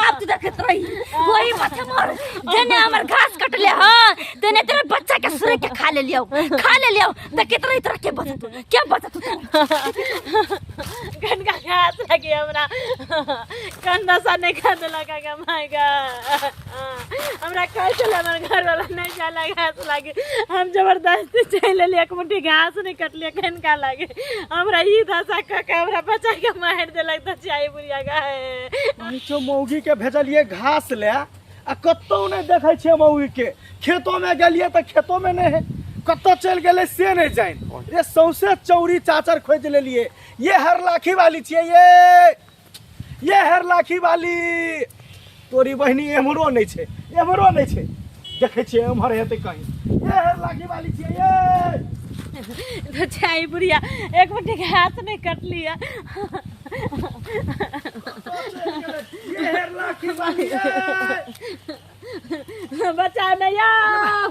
आप तो देखत रही वही माथा मार जेने हमर घास कटले ह तेने तेरे बच्चा के सुरे के खा ले लियो खा ले लियो त कितना तरह के बता तू क्या बता तू कनका घास लगे हमरा कंदा सा नहीं खाने लगा माय गॉड हमरा कहै छलै हमर घरवला नहि जाय लए घास लागे हम जबरदस्ती चलि एलियै एक मुट्ठी घास नहि कटलियै कनिका लागे हमरा ई दशा कऽ के हमरा बच्चा के मारि देलक तऽ चाहे बुढ़िया गाय पहुँचो मौगी के भेजलिए घास ले आ कतौ नहीं देखे छे मौगी के खेतों में गलिए तो खेतों में नहीं है कतौ चल गए से नहीं जान ये सौसे चौरी चाचर खोज लेलिए ये हर लाखी वाली छे ये ये हेर लाखी वाली तोरी बहिनी एम्हरो नहीं छे एम्हरो नहीं छे देखे छे एम्हर हेतै कहीं ये हेर लाखी वाली छे ये तो चाय बुढ़िया एक बटे के हाथ नहीं कट लिया ये हेर लाखी वाली ये बचा नहीं आओ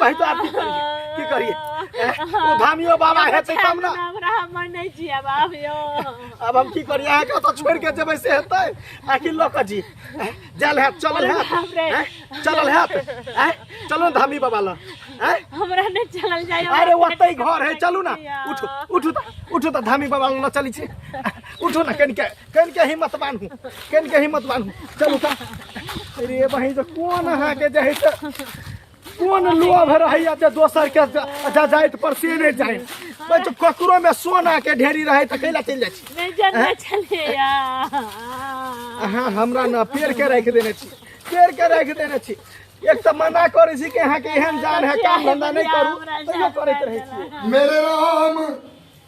भाइ तो आब की करियै की करियै एह, ओ धामियो बाबा हेतै तब ने हमरा हमर नहि जिया बाप यो अब हम की करियै अहाँके ओतऽ छोड़ के जेबै से हेतै आखिर लऽ कऽ जी एह, जायल हैत चलल हैत बाप रे। एह, चलल हैत एह, चलू ने धामी बाबा लग एह, हमरा नहि चलल जाय अरे ओतै घर है चलू ने उठू उठू तऽ उठू तऽ धामी बाबा लग चलै छी उठू ने कनिके कन के हिम्मत बानू कन के हिम्मत बानू चलू का अरे बहिन से कोन अहाँ के जे है से कोन लोभ रहैया जे दोसर के जा जाइत पर से नहीं जाए बे तो ककरो में सोना के ढेरी रहे त कैला चल जाइ छी नहीं जानना चले यार अहाँ हमरा न पेड़ के राखि देने छी पेड़ के राखि देने छी एक तऽ मना करै छी कि अहाँके एहन जान है काम धंधा नहि करू तैयो करैत रहै छी मेरे राम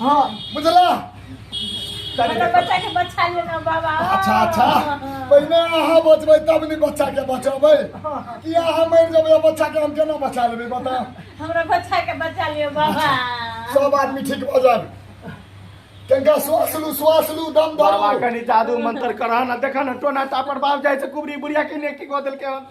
हाँ बुझला हमरा बच्चा के बचा लियो ना बाबा अच्छा अच्छा पहिने अहाँ बचबै तब ने बच्चा के बचबै कि अहाँ मरि जेबै आ बच्चा के हम केना बचा लेबै बता हमरा बच्चा के बचा लियो बाबा सब आदमी ठीक भऽ जायब कनिका श्वास लू श्वास लू दम बाबा धरू कनि जादू मंत्र करह न देखह न टोना टापर बाप जाइ छै कुबरी बुढ़िया के ने की कऽ देलकै हन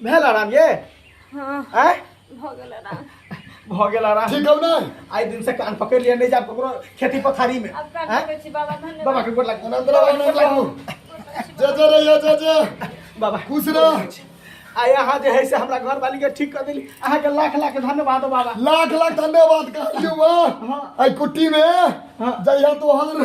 भेल आराम ये हाँ आय भऽ गेल आराम भऽ गेल आराम ठीक हौ ने आइ दिन से कान पकड़ लिया नहीं जाब ककरो खेती पथारी में आब कान आय? पकड़ै छी बाबा धन्यवाद बाबा के गोड़ लागू आनन्द रहू आनन्द रहू जे जे रहिए जे जे बाबा खुश रह। आ यहाँ जे है से हमरा घर वाली के ठीक कर देली अहाँ के लाख लाख धन्यवाद हो बाबा लाख लाख धन्यवाद कहलियौ हाँ। वाह आई कुट्टी में जहिया तोहर